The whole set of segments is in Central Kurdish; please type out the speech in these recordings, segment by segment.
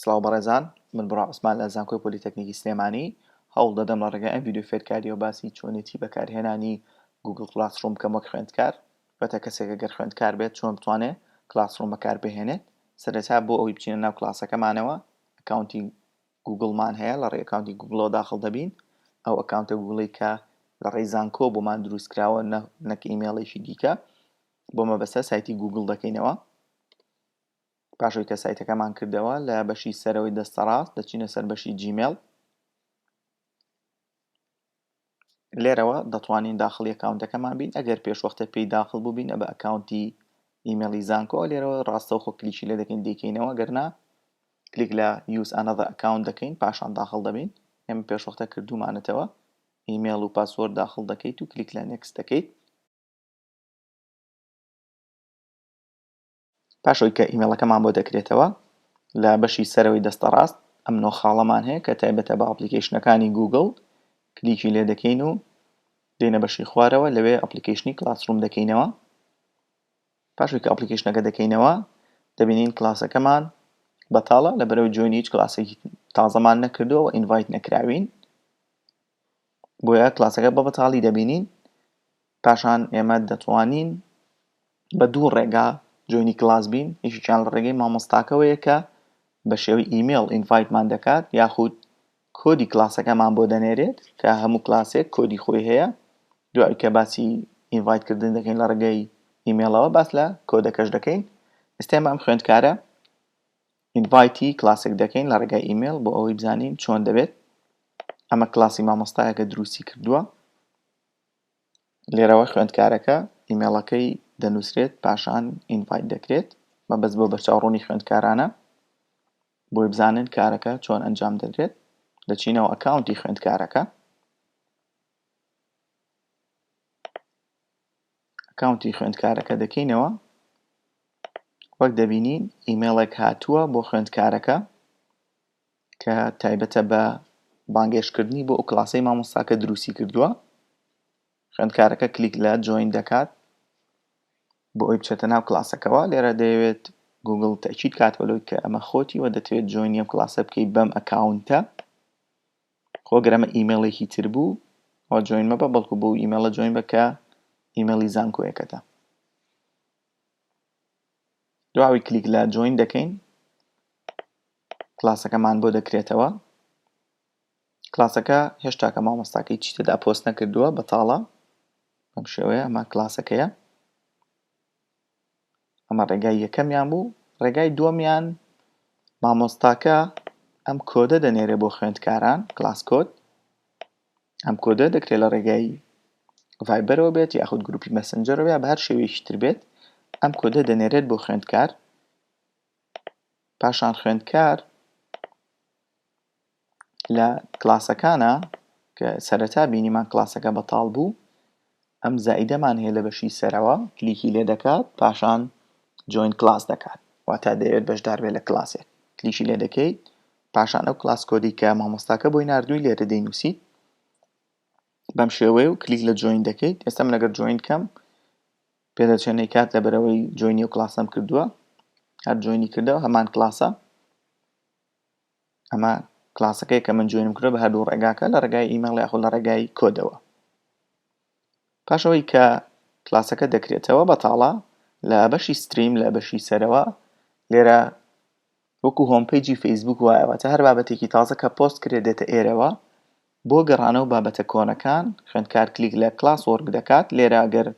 سڵاو بەڕێزان من بڕا عوسمان لە زانکۆی پۆلیتەکنیکی سلێمانی هەوڵ دەدەم لە ڕێگای ئەم ڤیدیۆ فێرکارییەوە باسی چۆنێتی بەکارهێنانی گووگڵ کڵاسڕووم بکەم وەک خوێندکار واتە کەسێک ئەگەر خوێندکار بێت چۆن بتوانێ کڵاسڕووم بەکار بهێنێت سەرەتا بۆ ئەوەی بچینە ناو کڵاسەکەمانەوە ئەکاونتی گووگڵمان هەیە لە ڕێی ئەکاونتی گووگڵەوە داخڵ دەبین ئەو ئەکاونتە گووگڵی کە لە ڕێی زانکۆ بۆمان دروست کراوە نەک ئیمێڵێکی دیکە بۆ مەبەستە سایتی گووگڵ دەکەینەوە پاش ئەوەی کە سایتەکەمان کردەوە لە بەشی سەرەوەی دەستەڕاست دەچینە سەر بەشی جیمێڵ لێرەوە دەتوانین داخڵی ئەکاونتەکەمان بین ئەگەر پێشوەختە پێی داخل بووبین بە ئەکاونتی ئیمێڵی زانکۆ لێرەوە ڕاستەوخۆ کلیکی لێ دەکەین دیکەینەوە گەرنا کلیک لە یوز ئەنەدە ئەکاونت دەکەین پاشان داخل دەبین ئێمە پێشوەختە کردومانەتەوە ئیمێڵ و پاسۆر داخل دەکەیت و کلیک لە نێکس دەکەیت پاش ئەوەی کە ئیمێڵەکەمان بۆ دەکرێتەوە لە بەشی سەرەوەی دەستە ڕاست ئەم نۆ خاڵەمان هەیە کە تایبەتە بە ئەپلیکیشنەکانی گوگل کلیکی لێ دەکەین و دێنە بەشی خوارەوە لەوێ ئەپلیکیشنی کلاسڕوم دەکەینەوە پاشێک ئەپلیکیشنەکە دەکەینەوە دەبینین کلاسەکەمان بەتاڵە لە بەرەو جوێن هیچ کلاسێکی تازەمان نەکردووە و ئینڤایت نەکراوین بۆیە کلاسەکە بە بەتاڵی دەبینین پاشان ئێمە دەتوانین بە دوو ڕێگا جۆینی کلاس بین یەکێکیان لە ڕێگەی مامۆستاکەوەیە کە بە شێوەی ئیمێڵ ئینڤایتمان دەکات یاخود کۆدی کلاسەکەمان بۆ دەنێرێت کە هەموو کلاسێک کۆدی خۆی هەیە دوای کە باسی ئینڤایتکردن دەکەین لە ڕێگەی ئیمێڵەوە باس لە کۆدەکەش دەکەین ئستێمە ئەم خوێندکارە ئینڤایتی کلاسێک دەکەین لە ڕێگای ئیمێل بۆ ئەوەی بزانین چۆن دەبێت ئەمە کلاسی مامۆستایەکە دروستی کردووە لێرەوە خوێندکارەکە ئیمێڵەکەی دەنووسرێت پاشان ئینڤایت دەکرێت بە بەس بۆ بەرچاوڕوونی خوێندکارانە بۆی بزانن کارەکە چۆن ئەنجام دەدرێت دەچینەوە ئەکاونتی خوێندکارەکە ئەکاونتی خوێندکارەکە دەکەینەوە وەک دەبینین ئیمێڵێک هاتووە بۆ خوێندکارەکە کە تایبەتە بە بانگێشتکردنی بۆ ئەو کلاسەی مامۆستاکە دروستی کردووە خوێندکارەکە کلیک لە جوین دەکات بۆ ئەوی بچێتە ناو کلاسەکەەوە لێرە دەیەوێت گوگل تەچیت کات بەلوی کە ئەمە خۆتی وە دەتوێت جوینیم کلاسە بکەیت بەم ئەکاونتە خۆگرەمە ئیممەڵێکی تر بوو ئەو جوین مەبە بەڵکو بۆ ئیممەڵە جوین بەکە ئیممەڵی زانکۆیەکەتە دواوی کلیک لە جوین دەکەین کلاسەکەمان بۆ دەکرێتەوە کلاسەکە هێشتاکە مامۆستاکەی چی تێدا پۆست نەکردووە بەتاڵە ئەم شێوەیە ئەمە کلاسەکەیە ئەمە ڕێگای یەکەمیان بوو ڕێگای دووەمیان مامۆستاکە ئەم کۆدە دەنێرێ بۆ خوێندکاران کلاس کۆد ئەم کۆدە دەکرێت لە ڕێگای ڤایبەرەوە بێت یاخود گروپی مەسنجەرەوە یا بە هەر شێوەیەکی تر بێت ئەم کۆدە دەنێرێت بۆ خوێندکار پاشان خوێندکار لە کلاسەکانە کە سەرەتا بینیمان کلاسەکە بەتاڵ بوو ئەم زائیدەمان هەیە لە بەشی سەرەوە کلیکی لێ دەکات پاشان جوین کلاس دەکات واتا دەیەوێت بەشدار بێت لە کلاسێک کلیکی لێ دەکەیت پاشان ئەو کلاس کۆدی کە مامۆستاکە بۆی نردووی لێرە دەینوسیت بەم شێوەیە و کلیک لە جوین دەکەیت ئێستم لەگەر جوین کەم پێدەچێنێ کات لەبەرەوەی جۆینی و کلاسەم کردووە هەر جۆینی کردەوە هەمان کلاسە ئەمە کلاسەکەی کە من جوێنم کرد بە هەردوو ڕێگاکە لە ڕێگای ئیمەڵ یاخۆ لە ڕێگای کۆدەوە پاشەوەی کە کلاسەکە دەکرێتەوە بەتاڵە لە بەشی ستریم لە بەشی سەرەوە لێرە وەکو هۆم پەیجی فەیسبووک وایە واتە هەر بابەتێکی تازە کە پۆست کرێت دێتە ئێرەوە بۆ گەڕانەوە بابەتە کۆنەکان خوێندکار کلیک لە کلاس وۆرک دەکات لێرە گەر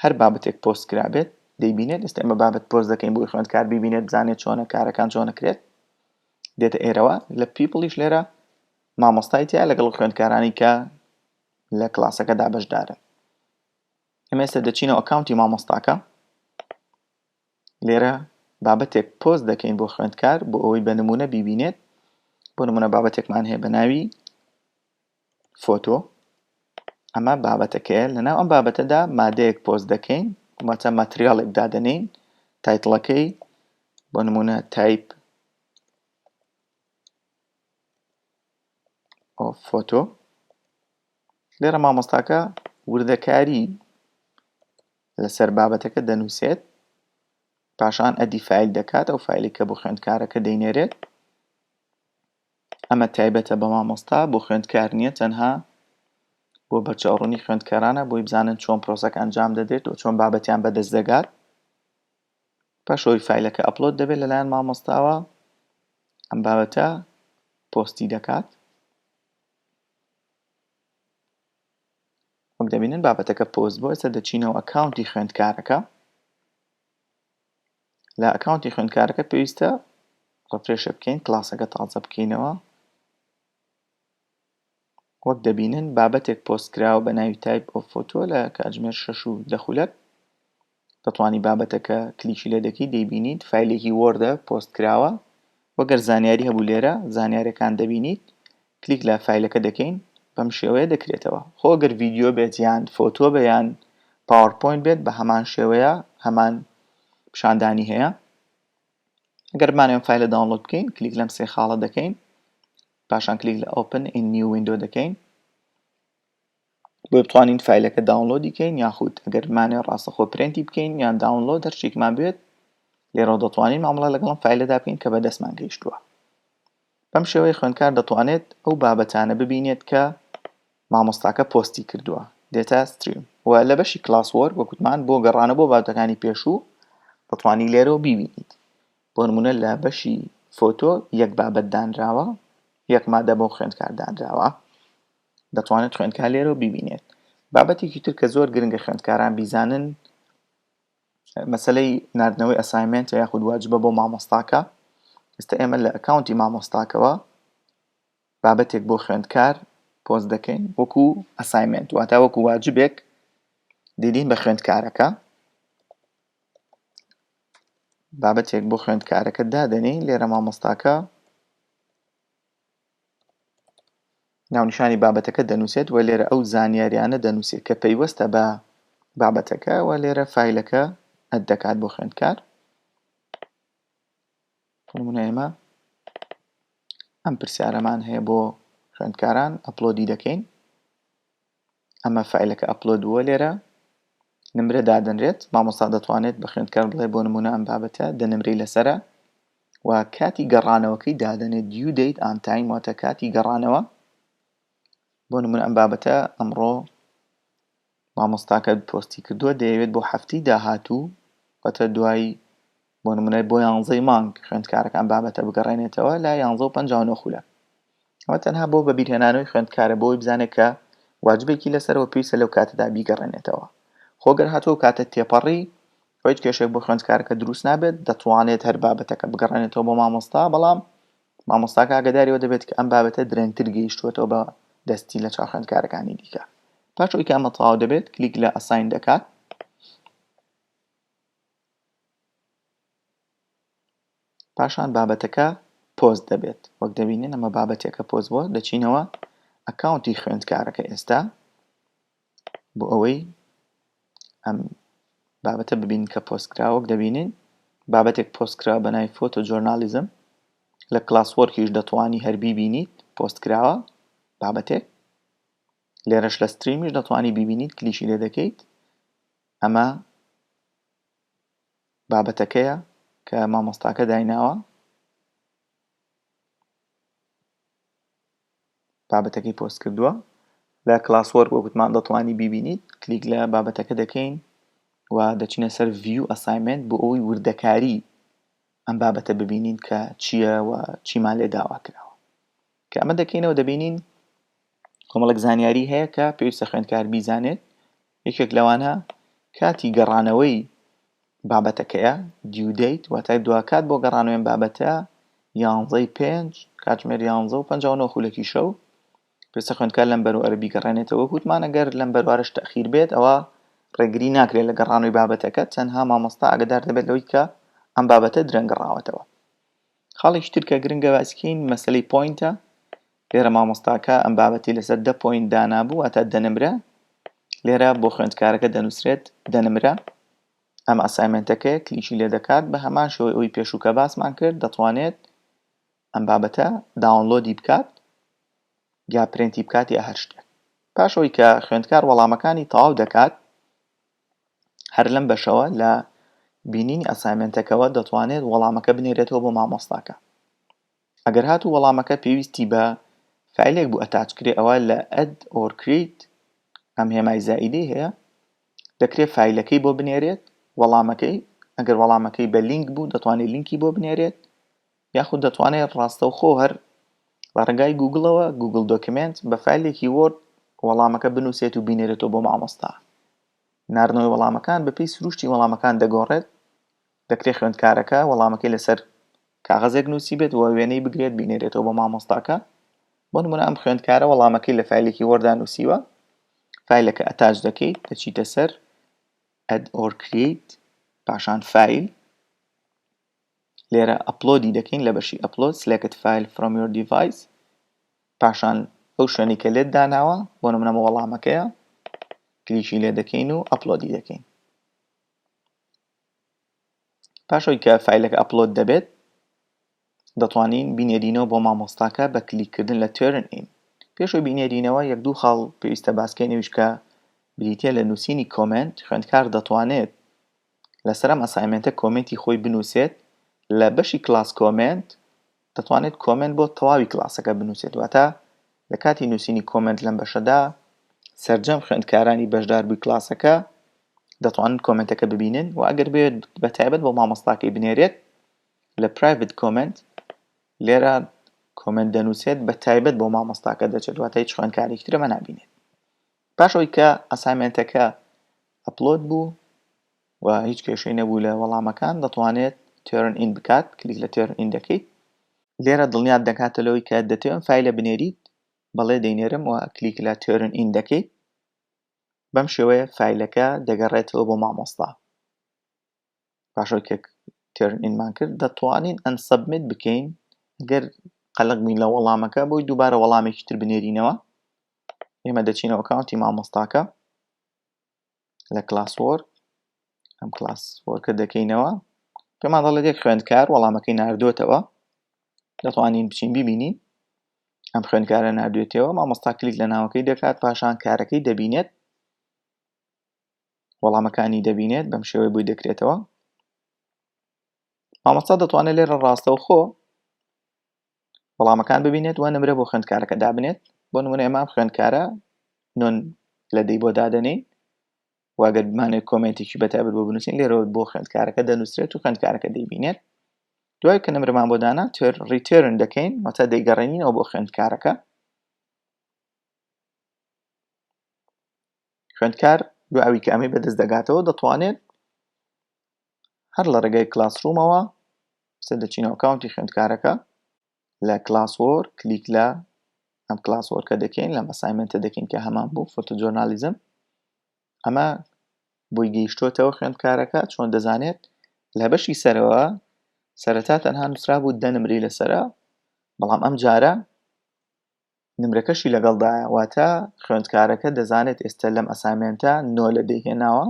هەر بابەتێک پۆست کرابێت دەیبینێت ئێستا ئێمە بابەت پۆست دەکەین بۆی خوێندکار ببینێت بزانێت چۆنە کارەکان چۆنەکرێت دێتە ئێرەوە لە پیپڵیش لێرە مامۆستای تیا لەگەڵ خوێندکارانی کە لە کلاسەکەدا بەشدارن ئەمێستا دەچینەوە ئەکاونتی مامۆستاکە لێرە بابەتێک پۆست دەکەین بۆ خوێندکار بۆ ئەوەی بە نمونە بیبینێت بۆ نمونە بابەتێکمان هەیە بە ناوی فۆتۆ ئەمە بابەتەکەیە لەناو ئەم بابەتەدا مادەیەک پۆست دەکەین واتە ماتریاڵێک دادەنین تایتڵەکەی بۆ نمونە تایپ فۆتۆ لێرە مامۆستاکە وردەکاری لەسەر بابەتەکە دەنووسێت، پاشان ئەدی فایل دەکات، ئەو فایلی کە بۆ خوێندکارەکە دەینێرێت ئەمە تایبەتە بە مامۆستا بۆ خوێندکار نییە تەنها بۆ بەرچاوڕوونی خوێندکارانە بۆی بزانن چۆن پرۆسەکە ئەنجام دەدرێت و چۆن بابەتیان بەدەست دەگات پاشەوەی فیلەکە ئەپلۆد دەبێت لەلایەن مامۆستاوە ئەم بابەتە پۆستی دەکات وەک دەبینن بابەتەکە پۆست بۆ ئێستا دەچینەوە ئەکاونتی خوێندکارەکە لە ئەکاونتی خوێندکارەکە پێویستە ڕفرێشە بکەین کلاسەکە تازە بکەینەوە وەک دەبینن بابەتێک پۆستکراوە بە ناوی تایپ ئۆف فۆتۆ لە کاتژمێر 6 و دەخولەک دەتوانی بابەتەکە کلیکی لێ دەکەی دەیبینیت فایلێکی وۆردە پۆست کراوە وەگەر زانیاری هەبوو لێرە زانیارەکان دەبینیت کلیک لە فایلەکە دەکەین بەم شێوەیە دەکرێتەوە خۆگەر ڤیددیو بێت یان فۆتۆ بەیان پاوەپۆین بێت بە هەمان شێوەیە هەمان پیشاندانی هەیە گەرمانێن فایلە داونلۆد بکەین کلیک لەم سێ خاڵە دەکەین پاشان کلیک لە ئۆپن ئین نیو وینندۆ دەکەین بۆیە بتوانین فایلەکە داونلۆدی کەین یاخود ئەگەر مانێ ڕاستەخۆ پرێنتی بکەین یان داونلۆد دەرچێکمان بێت لێرەوە دەتوانین مامەڵە لەگەڵم فایلەدا بکەین کە بەدەستمان گەیشتووە بەم شێوەی خوێندکار دەتوانێت ئەو بابەتانە ببینێت کە مامۆستاکە پۆستی کردووە دێتا ستریم و لە بەشی کلاس وەرک وەکوتمان بۆ گەڕانە بۆ بابەتەکانی پێشوو دەتوانی لێرەوە ببینیت بۆ نمونە لە بەشی فۆتۆ یەک بابەت دانراوە یەک مادە بۆ خوێندکار دانراوە دەتوانێت خوێندکار لێرەوە بیبینێت بابەتێکی تر کە زۆر گرنگە خوێندکاران بیزانن مەسلەی نردنەوەی ئەسایمنت یاخود واجبە بۆ مامۆستاکە ئستا ئێمە لە ئەکاونتی مامۆستاکەوە بابەتێک بۆ خوێندکار پۆز دەکەین وەکو ئەسایمنت واتا وەکو واجبێک دیدین بە خوێندکارەکە بابەتێک بۆ خوێندکارەکە دادەنی لێرە مامۆستاکە ناونیشانی بابەتەکە دەنووسێت و لێرە ئەو زانیاریانە دەنووسێت کە پەیوەستە بە بابەتەکە و لێرە فیلەکە ئەت دەکات بۆ خوێندکار نمونەمە ئەم پرسیارەمان هەیە بۆ خوێندکاران ئەپلۆدی دەکەین ئەمە فایلەکە ئەپلۆد بووە لێرە نمرە دادەنرێت مامۆستا دەتوانێت بە خوێندکار بڵێ بۆ نمونە ئەم بابەتە دە نمرەی لەسرە و کاتی گەڕانەوەکەی دادەنێت دیو دەیت ئانتایم واتە کاتی گەڕانەوە بۆ نمونە ئەم بابەتە ئەمڕۆ مامۆستاکە پۆستی کردووە دەیەوێت بۆ هەفتی داهاتوو واتە دوای بۆ نمونە بۆ یانزەی مانگ خوێندکارەکە ئەم بابەتە بگەڕێنێتەوە لە یانزە و پەنجا و نۆ خولە ئەوە تەنها بۆ بەبیرهێنانەوەی خوێندکارە بۆی بزانێت کە واجبێکی لەسەرەوە پێویستە لەو کاتەدا بیگەڕێنێتەوە خۆگەر هاتوو کاتە تێپەڕی هیچ کێشێک بۆ خوێندکارەکە دروست نابێت دەتوانێت هەر بابەتەکە بگەڕێنێتەوە بۆ مامۆستا بەڵام مامۆستاکە ئاگداریەوە دەبێت کە ئەم بابەتە درەنگتر گەیشتووەتەوە بە دەستی لە چاو خوێندکارەکانی دیکە پاش ئەوی کامە تەواو دەبێت کلیک لە ئەساین دەکات پاشان بابەتەکە پۆست دەبێت وەک دەبینن ئەمە بابەتێکە پۆست بۆ دەچینەوە ئەکاونتی خوێندکارەکە ئێستا بۆ ئەوەی ئەم بابەتە ببین کە پۆستکراوەک دەبینین بابەتێک پۆستکرا بە نای فۆتۆ جۆرنالیزم لە کلاسوەرکیش دەتوانی هەربی بینیت پۆستکراوە بابەتێک لێرەش لە ستریمیش دەتوانی ببینیت کلیشی لێ دەکەیت ئەمە بابەتەکەیە کە مامۆستاکە دایناوە بابەتەکەی پۆست کردووە لە کلاس وەرک وەگوتمان دەتوانی بیبینیت کلیک لە بابەتەکە دەکەین و دەچینە سەر ڤیو ئەسایمنت بۆ ئەوی وردەکاری ئەم بابەتە ببینین کە چییە و چیمان لێ داوا کراوە کە ئەمە دەکەینەوە دەبینین کۆمەڵێک زانیاری هەیە کە پێویستە خوێندکار بیزانێت یەکێک لەوانە کاتی گەڕانەوەی بابەتەکەیە دیودەیت واتای دواکات بۆ گەڕانوێن بابەتە یانزەی پێنج کاتژمێر یانزە و پەنجاونەوە خولەکی شەو پێسە خوێندکار لەم بەروارە بیگەڕێنێتەوە وتمان ئەگەر لەم بەروارش تەخیر بێت ئەوە ڕێگری ناکرێت لە گەڕانوی بابەتەکە تەنها مامۆستا ئەگەدار دەبێت لەوەی کە ئەم بابەتە درەنگەڕاوەتەوە خاڵێکی تر کە گرنگە باسی کەین مەسلەی پۆینتە لێرە مامۆستاکە ئەم بابەتی لەسەر دە پۆینت دانابوو واتا دەنمرە لێرە بۆ خوێندکارەکە دەنووسرێت دەنمرە ئەم ئەسایمنتەکە کلیکی لێ دەکات بە هەمان شەوەی ئەوی پێشوو کە باسمان کرد دەتوانێت ئەم بابەتە داونلۆدی بکات یا پرنتی بکات یا هەر شتێک پاشەوەی کە خوێندکار وەڵامەکانی تەواو دەکات هەر لەم بەشەوە لە بینینی ئەسایمێنتەکەوە دەتوانێت وەڵامەکە بنێرێتەوە بۆ مامۆستاکە ئەگەر هات و وەڵامەکە پێویستی بە فیلێک بوو ئەتاچکرێ ئەوە لە ئەد ئۆرکریت ئەم هێمای زائیدی هەیە دەکرێت فیلەکەی بۆ بنێرێت وەڵامەکەی ئەگەر وەڵامەکەی بە لینک بوو دەتوانێت لینکی بۆ بنێرێت یاخود دەتوانێت ڕاستەوخۆ هەر لە ڕێگای گوگڵەوە گوگل دۆکمێنت بە فایلێکی وۆرد وەڵامەکە بنووسێت و بینێرێتەوە بۆ مامۆستا ناردنەوەی وەڵامەکان بەپی سروشتی وەڵامەکان دەگۆڕێت دەکرێت خوێندکارەکە وەڵامەکەی لەسەر کاغەزێک نووسی بێت و وێنەی بگرێت بینێرێتەوە بۆ مامۆستاکە بۆ نمونە ئەم خوێندکارە وەڵامەکەی لە فیلێکی وەردا نووسیوە فیلەکە ئەتاج دەکەیت دەچیتە سەر ئەد ئۆرکریت پاشان فیل لێرە ئەپلۆدی دەکەین لە بەشی ئەپلۆد سلێکت فایل فرۆم یۆر دیڤایس پاشان ئەو شوێنی کە لێت داناوە بۆ نمونەمە وەڵامەکەیە کلیکی لێ دەکەین و ئەپلۆدی دەکەین پاشەوەی کە فیلەکە ئەپلۆد دەبێت دەتوانین بینێرینەوە بۆ مامۆستاکە بە کلیککردن لە تێرن ئین پێشەوە بینێرینەوە یەک دوو خاڵ پێویستە باسکەی نویشکە بریتە لە نووسینی کۆمنت خوێندکار دەتوانێت لەسەر ئەم ئەسایمێنتە کۆمێنتی خۆی بنوسێت لە بەشی کلاس کۆمێنت دەتوانێت کۆمێنت بۆ تەواوی کلاسەکە بنوسێت واتە لە کاتی نوسینی کۆمێنت لەم بەشەدا سەرجەم خوێندکارانی بەشدار بووی کلاسەکە دەتوانن کۆمێنتەکە ببینن و ئەگەر بێت بە تایبەت بۆ مامۆستاکەی بنێرێت لە پرایڤت کۆمێنت لێرە کۆمێنت دەنووسێت بە تایبەت بۆ مامۆستاکە دەچێت واتە هیچ خوێندکارێکی ترەمە نابینێت پاش ئەوەی کە ئەسایمێنتەکە ئەپلۆد بوو و هیچ کێشەی نەبوو لە وەڵامەکان دەتوانێت تێرن ئین بکات کلیک لە تێرن ئین دەکەیت لێرە دڵنیات دەکاتە لەوەی کە دەتەوێن فیلە بنێریت بەڵێ دەینێرم و کلیک لە تێرن ئین دەکەیت بەم شێوەیە فیلەکە دەگەڕێتەوە بۆ مامۆستا پاشەوەی کە تێرن ئینمان کرد دەتوانین ئەن سەبمیت بکەین گەر قەلق بین لە وەڵامەکە بۆی دووبارە وەڵامێکی تر بنێرینەوە ئێمە دەچینەوە کاونتی مامۆستاکە لە کلاس وۆر ئەم کلاس وۆرکە دەکەینەوە پێمان دەڵێت یەک خوێندکار وەڵامەکەی نردوێتەوە دەتوانین بچین ببینین ئەم خوێندکارە نردوێتەوە مامۆستا کلیک لە ناوەکەی دەکات پاشان کارەکەی دەبینێت وەڵامەکانی دەبینێت بەم شێوەی بۆی دەکرێتەوە مامۆستا دەتوانێت لێرە ڕاستەوخۆ وەڵامەکان ببینێت و نمرە بۆ خوێندکارەکە دابنێت بۆ نمونە ئەمە خوێندکارە نۆن لە دەی بۆ دادەنین واگەر بمانێت کۆمنتێکی بەتابەت بۆ بنووسین لێرەوە بۆ خوێندکارەکە دەنووسرێت و خوێندکارەکە دەیبینێت دوای کە نمرمان بۆ دانا تێر ڕیتێرن دەکەین واتە دەیگەڕێنینەوە بۆ خوێندکارەکە خوێندکار دوای ئەوی کە ئەمەی بەدەست دەگاتەوە دەتوانێت هەر لە ڕێگەی کلاسڕومەوە سێ دەچین ئەوکاونتی خوێندکارەکە لە کلاسۆر کلیک لە ئەم کلاسۆرکە دەکەین لە مەسایمنتە دەکەین کە هەمان بوو فۆتۆجۆرنالیزم ئەمە بۆی گەیشتوتەوە خوێندکارەکە چۆن دەزانێت لە بەشی سەرەوە سەرەتا تەنها نووسرا بوو دەنمری لەسرە بەڵام ئەم جارە نمرەکەشی لەگەڵدایە واتە خوێندکارەکە دەزانێت ئێستا لەم ئەسامێنتە نۆ لە دەی هێناوە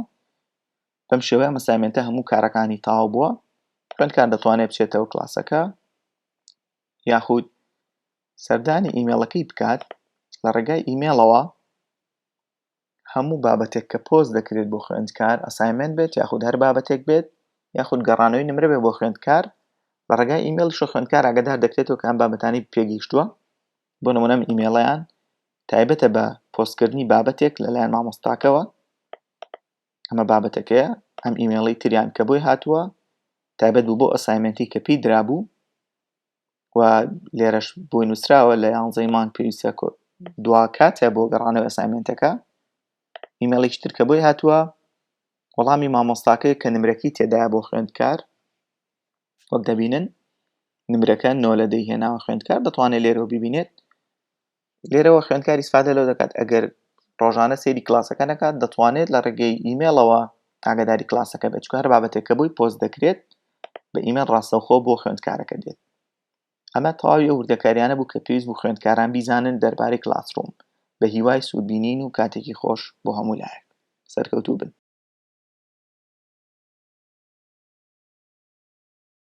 بەم شێوەیە مەسامێنتە هەموو کارەکانی تاو بووە خوێندکار دەتوانێت بچێتەوە کلاسەکە یاخود سەردانی ئیمێڵەکەی بکات لە ڕێگای ئیمێڵەوە هەموو بابەتێک کە پۆست دەکرێت بۆ خوێندکار ئەسایمنت بێت یاخود هەر بابەتێک بێت یاخود گەڕانەوەی نمرە بێ بۆ خوێندکار لە ڕێگای ئیممەڵ شە خوێندکار ئاگدار دەکرێتەوە کام بابەتانی پێگەیشتووە بۆ نمونەم ئیمێڵیان تایبەتە بە پۆستکردنی بابەتێک لەلایەن مامۆستاکەوە ئەمە بابەتەکەیە ئەم ئیمێڵی تریان کە بۆی هاتووە تایبەت بوو بۆ ئەسایمنتی کە پێی درابوو و لێرەش بۆی نووسراوە لە یانزەی مانگ پێویستە دوا کاتە بۆ گەڕانەوە ئەسایمنتەکە ئیمەڵێکی ترکە بۆی هاتووە وەڵامی مامۆستاکە کە نمرەکەی تێدا بۆ خوێندکار وەک دەبینن نمرەکە نۆ لە دەیهێناوە خوێندکار دەتوانێت لێرەوە ببینێت لێرەوە خوێندکار ئیسفادە لەو دەکات ئەگەر ڕۆژانە سێری کلاسەکە نەکات دەتوانێت لە ڕێگەی ئیمێڵەوە ئاگداری کلاسەکە بێت چکار بابەتێک کە بووی پۆست دەکرێت بە ئیمەن ڕاستەوخۆ بۆ خوێندکارەکە دێت ئەمە تەواوی ئەو وردەکاریانە بوو کە پێویست بوو خوێندکاران بیزانن دەربارەی کلاسڕوم بە هیوای سوودبینین و کاتێکی خۆش بۆ هەموو لایەک سەرکەوتوو بن